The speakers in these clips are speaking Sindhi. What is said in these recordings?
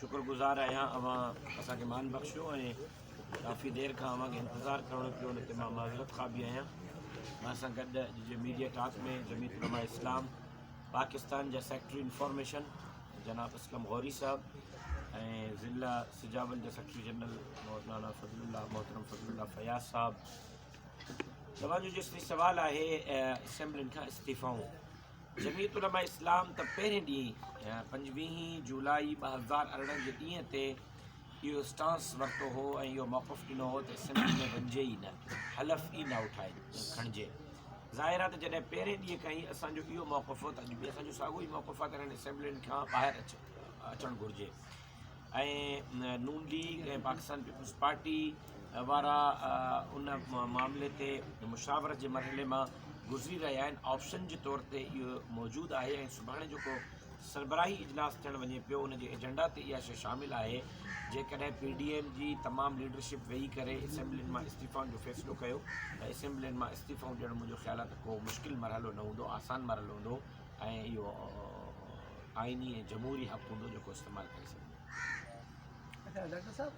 شڪر گذار آهيان اوهان اسان کي مان بخشيو ۽ ڪافي دير کان اوهان کي انتظار ڪرڻو پيو ان تي مان معذرت خواه به آهيان مان سان گڏ اڄ جي ميڊيا ٽاڪ ۾ جميت علماء اسلام پاڪستان جا سيڪريٽري انفارميشن جناب اسلم غوري صاحب ۽ ضلع سجاول جا سيڪريٽري جنرل مولانا فضل الله محترم فضل الله فياض صاحب توهان جو جيسي سوال آهي اسيمبلين کان استعيفائون جمعيت علماء اسلام ته پهرين ڏينهن پنجويهين جولاء ٻه هزار ارڙهن جي ڏينهن تي اهو اسٽانس ورتو هو ۽ اهو موقف ڏنو هو ته اسيمبلي ۾ وڃجي ئي نه، حلف ئي نه اٺائي کڻجي. ظاهر آهي ته جڏهن پهرين ڏينهن کان ئي اسان جو اهو موقف هو ته اڄ به اسان جو ساڳيو ئي موقف آهي ته هنن اسيمبلين کان ٻاهر اچڻ گهرجي. ۽ Noon League ۽ Pakistan Peoples Party وارا ان معاملي تي مشاورت جي مرحلي مان گذري رهيا آهن آپشن جي طور تي اهو موجود آهي ۽ سڀاڻي جيڪو سربراهي اجلاس ٿيڻ وڃي پيو ان جي ايجنڊا تي اها شيء شامل آهي جيڪڏهن پي ڊي ايم جي تمام ليڊرشپ ويهي ڪري اسيمبلين مان استعيفائن جو فيصلو ڪيو ته اسيمبلين مان استعيفائون ڏيڻ منهنجو خيال آهي ته ڪو مشڪل مرحلو نه هوندو آسان مرحلو هوندو ۽ اهو آئيني ۽ جمهوري حق هوندو جيڪو استعمال ڪري سگهجي اچا ڊاڪٽر صاحب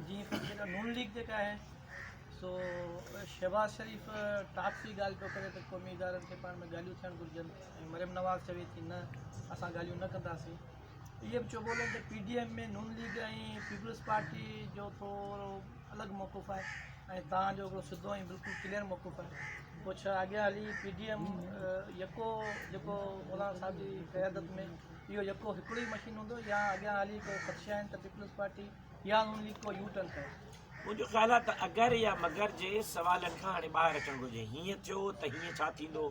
جي جيڪا نون ليگ جيڪا آهي سو شهباز شريف ٽاپ جي ڳالهه پيو ڪري ته قومي ادارن کي پاڻ ۾ ڳالهيون ٿيڻ گهرجن ۽ مريم نواز چوي ٿي نه اسان ڳالهيون نه ڪنداسين اهي به چوبولن ته P D M ۾ Noon League ۽ Peoples Party جو ٿورو الڳ موقف آهي ۽ توهان جو هڪڙو سڌو ۽ بلڪل ڪليئر موقف آهي پوء ڇا اڳيان هلي پي ڊي ايم يڪو جيڪو مولانا صاحب جي قيادت ۾ اهو يڪو هڪڙو ئي مشين هوندو يا اڳيان هلي ڪو خدشا آهن ته پيپلز پارٽي يا نون ليگ ڪو يو ٽرن ڪري منهنجو خيال آهي ته اگر يا مگر جي سوالن کان هاڻي ٻاهر اچڻ گهرجي هيئن ٿيو ته هيئن ڇا ٿيندو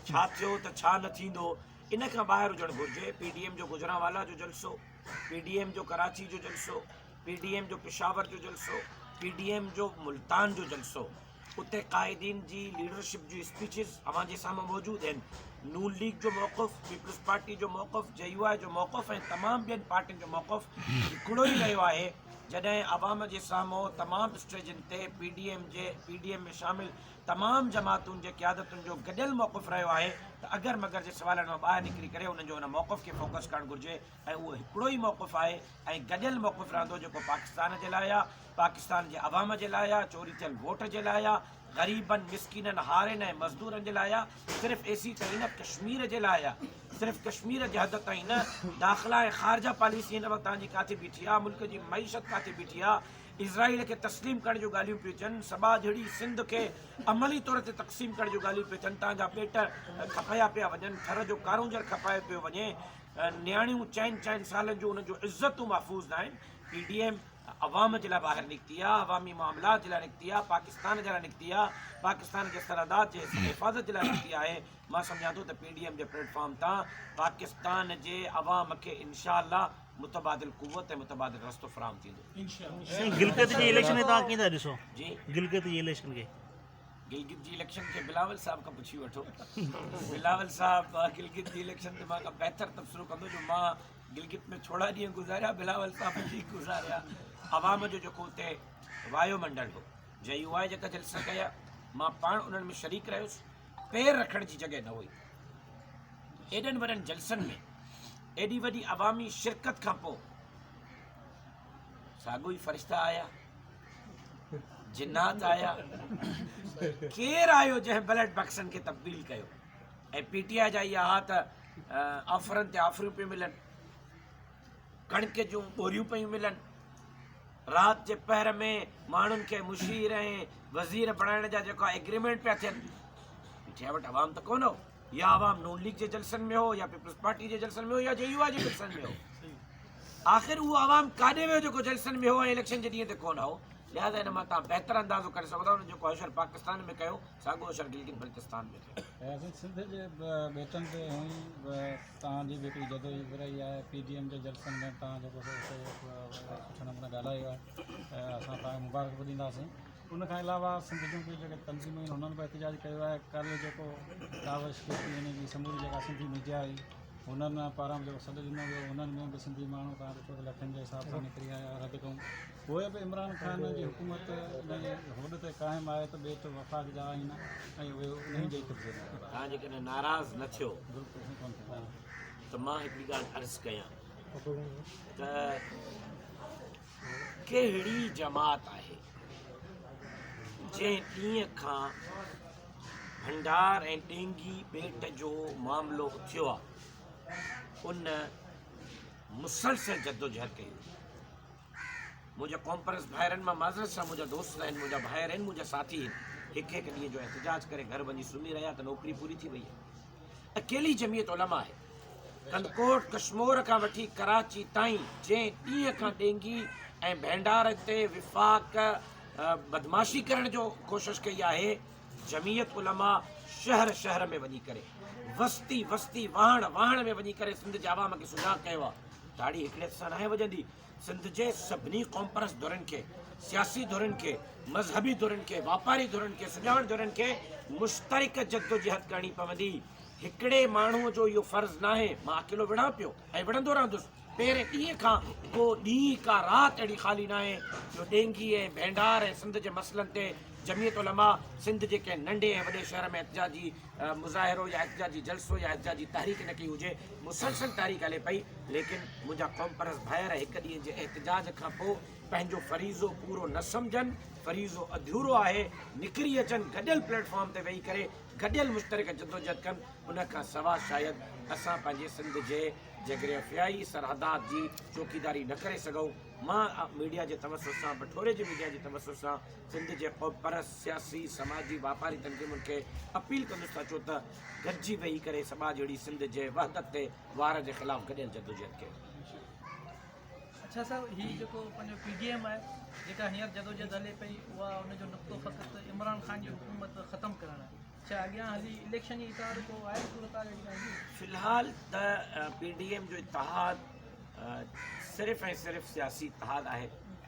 ڇا ٿيو ته ڇا نه ٿيندو ان کان ٻاهر هجڻ گهرجي پي ڊي ايم جو گجرانوالا جو جلسو پي ڊي ايم جو ڪراچي جو جلسو پي ڊي ايم جو پشاور جو جلسو، پي ڊي ايم جو ملتان جو جلسو، اتي قائدين جي ليڊرشپ جون اسپيچز اوهان جي سامهون موجود آهن، نون ليگ جو موقف، پيپلز پارٽي جو موقف، جي يو آء جو موقف ۽ تمام ٻين پارٽين جو موقف هڪڙو ئي رهيو آهي، جڏهن عوام جي سامهون تمام اسٽيجن تي پي ڊي ايم جي پي ڊي ايم ۾ شامل تمام جماعتون جي قيادتن جو گڏيل موقف رهيو آهي ته اگر مگر جي سوالن مان ٻاهر نڪري ڪري انهن جو ان موقف کي فوڪس ڪرڻ گهرجي ۽ اهو هڪڙو ئي موقف آهي ۽ گڏيل موقف رهندو جيڪو پاڪستان جي لاء آهي، پاڪستان جي عوام جي لاء آهي، چوري ٿيل ووٽ جي لاء آهي، غريبن، مسڪينن، هارين ۽ مزدورن جي لاء آهي، صرف ايسي تائين نه ڪشمير جي لاء آهي، صرف ڪشمير جي حد تائين نه، داخلا ۽ خارجه پاليسي هن وقت تهان جي ڪاٿي بيٺي آهي، ملڪ جي معيشت ڪاٿي بيٺي آهي، اسرائيل کي تسليم ڪرڻ جون ڳالهيون پيون ٿين، سٻاجهڙي سنڌ کي عملي طور تي تقسيم ڪرڻ جون ڳالهيون پيون ٿين، تهان جا پيٽ کپايا پيا وڃن، ٿر جو ڪارونجهر کپايو پيو وڃي، نياڻيون چئن چئن سالن جون انهن جون عزتون محفوظ ناهن، پي ڊي ايم عوام جي لاء ٻاهر نڪتي آ، عوامي معاملات جي لاء نڪتي آ، پاڪستان جي لاء نڪتي آ، پاڪستان جي سرحدات جي حفاظت جي لاء نڪتي آهي، مان سمجهان ٿو ته پي ڊي ايم جي پليٽ فارم تان پاڪستان جي عوام کي انشاء الله متبادل قوت ۽ متبادل رستو فراهم ٿيندو. سائين گلگت جي اليڪشن کي توهان ڪيئن ٿا ڏسو؟ جي؟ گلگت جي اليڪشن کي؟ گلگت جي اليڪشن کي بلاول صاحب کان پڇي وٺو بلاول صاحب گلگت جي اليڪشن تي مان کان بهتر تبصرو ڪندو جو مان گلگت ۾ ٿورا ڏينهن گذاريا بلاول صاحب جي گذاريا عوام جو جيڪو اتي وايو منڊل هو جي يو آء جيڪا جلسا ڪيا مان پاڻ انهن ۾ شريڪ رهيس پير رکڻ جي جڳهه نه هئي ايڏن وڏن جلسن ۾ ايڏي وڏي عوامي شرڪت کان پوء ساڳو ئي فرشتا آيا جنات آيا ڪير آيو جنهن بلٽ بڪسن کي تبديل ڪيو ۽ پي ٽي آء جا اها ها ته آفرن تي آفريون پيون ملن ڪڻڪ جون ٻوريون پيون ملن رات جي پهر ۾ ماڻهن کي مشير ۽ وزير بڻائڻ جا جيڪا ايگريمنٽ پيا ٿين پي ٽي آء وٽ عوام ته ڪونه هو يا عوام نون ليگ جي جلسن ۾ هو يا پيپلز پارٽي جي جلسن ۾ هو يا جي يو آء جي جلسن ۾ هو آخر اهو عوام ڪاڏي ويو جيڪو جلسن ۾ هو ۽ اليڪشن جي ڏينهن تي ڪونه هو لهذا ان مان تان بهتر اندازو ڪري سگهو ٿا ان جو ڪوشر پاڪستان ۾ ڪيو ساڳو اشر گلگت بلتستان ۾ ڪيو سنڌ جي بيتن تي هونئي تان جي جيڪي جدو جي برائي آهي پي ڊي ايم جي جلسن ۾ تان جيڪو سٺو نموني ڳالهايو آهي اسان تان مبارڪ به ڏينداسين ان کان علاوه سنڌ جون ٻيون جيڪي تنظيمون آهن انهن به احتجاج ڪيو آهي ڪل جيڪو ڪاوش ڪيتي هن جي سموري جيڪا سنڌي ميڊيا هئي انهن پاران به جيڪو سڏ ڏنو ويو انهن ۾ به سنڌي ماڻهو تان ڏٺو ته لکين جي حساب سان نڪري آيا رد ڪئون پوء به عمران خان جي حڪومت انهن جي هوڏ تي قائم آهي ته ٻيٽ وفاق جا آهن ۽ اهي انهن جي قبضي ۾ آهن توهان جيڪڏهن ناراض نه ٿيو ته مان هڪڙي ڳالهه عرض ڪيان ته ڪهڙي جماعت آهي جنهن ڏينهن کان ڀنڊار ۽ ڏينگي ٻيٽ جو معاملو اٿيو آهي ان مسلسل جدوجهد ڪئي منهنجا ڪانفرنس ڀائرن مان معذرت سان منهنجا دوست آهن منهنجا ڀائر آهن منهنجا ساٿي آهن هڪ هڪ ڏينهن جو احتجاج ڪري گهر وڃي سمهي رهيا ته نوڪري پوري ٿي وئي اڪيلي جميعت علماء آهي ڪنڌڪوٽ ڪشمور کان وٺي ڪراچي تائين جنهن ڏينهن کان ڏينگي ۽ ڀينڊار تي وفاق بدمعاشي ڪرڻ جو ڪوشش ڪئي آهي جميعت علماء شهر شهر ۾ وڃي ڪري وستي وستي واهڻ واهڻ ۾ وڃي ڪري سنڌ جي عوام کي سجاڳ ڪيو آهي تاڙي هڪڙي هٿ سان ناهي وڄندي سنڌ جي سڀني قومپرست ڌرين کي، سياسي ڌرين کي، مذهبي ڌرين کي، واپاري ڌرين کي، سڄاڻ ڌرين کي مشترڪ جدوجهد ڪرڻي پوندي. هڪڙي ماڻهوء جو اهو فرض ناهي. مان اڪيلو وڙهان پيو ۽ وڙهندو رهندس. پهرين ڏينهن کان ڪو ڏينهن، ڪا رات اهڙي خالي ناهي جو ڏينگي ۽ ڀينڊار ۽ سنڌ جي مسئلن تي جمعيت علماء سنڌ جي ڪنهن ننڍي ۽ وڏي شهر ۾ احتجاجي مظاهرو يا احتجاجي جلسو يا احتجاجي تحريڪ نه ڪئي هجي، مسلسل تحريڪ هلي پئي، ليڪن منهنجا قومپرست ڀائر هڪ ڏينهن جي احتجاج کان پوء پنهنجو فريضو پورو نه سمجهن، فريضو اڌورو آهي، نڪري اچن، گڏيل پليٽ فارم تي ويهي ڪري گڏيل مشترڪه جدوجهد ڪن، ان کان سوا شايد اسان پنهنجي سنڌ جي جغرافيائي سرحدات جي چوڪيداري نه ڪري سگهون. مان ميڊيا جي توسط سان، بٺوري جي ميڊيا جي توسط سان سنڌ جي قومپرست، سياسي، سماجي، واپاري تنظيمن کي اپيل ڪندس ته اچو ته گڏجي ويهي ڪري سٻاجهه اڙي سنڌ جي وحدت تي وار جي خلاف گڏيل جدوجهد ڪيون. في الحال ته پي ڊي ايم جو اتحاد صرف ۽ صرف سياسي اتحاد آهي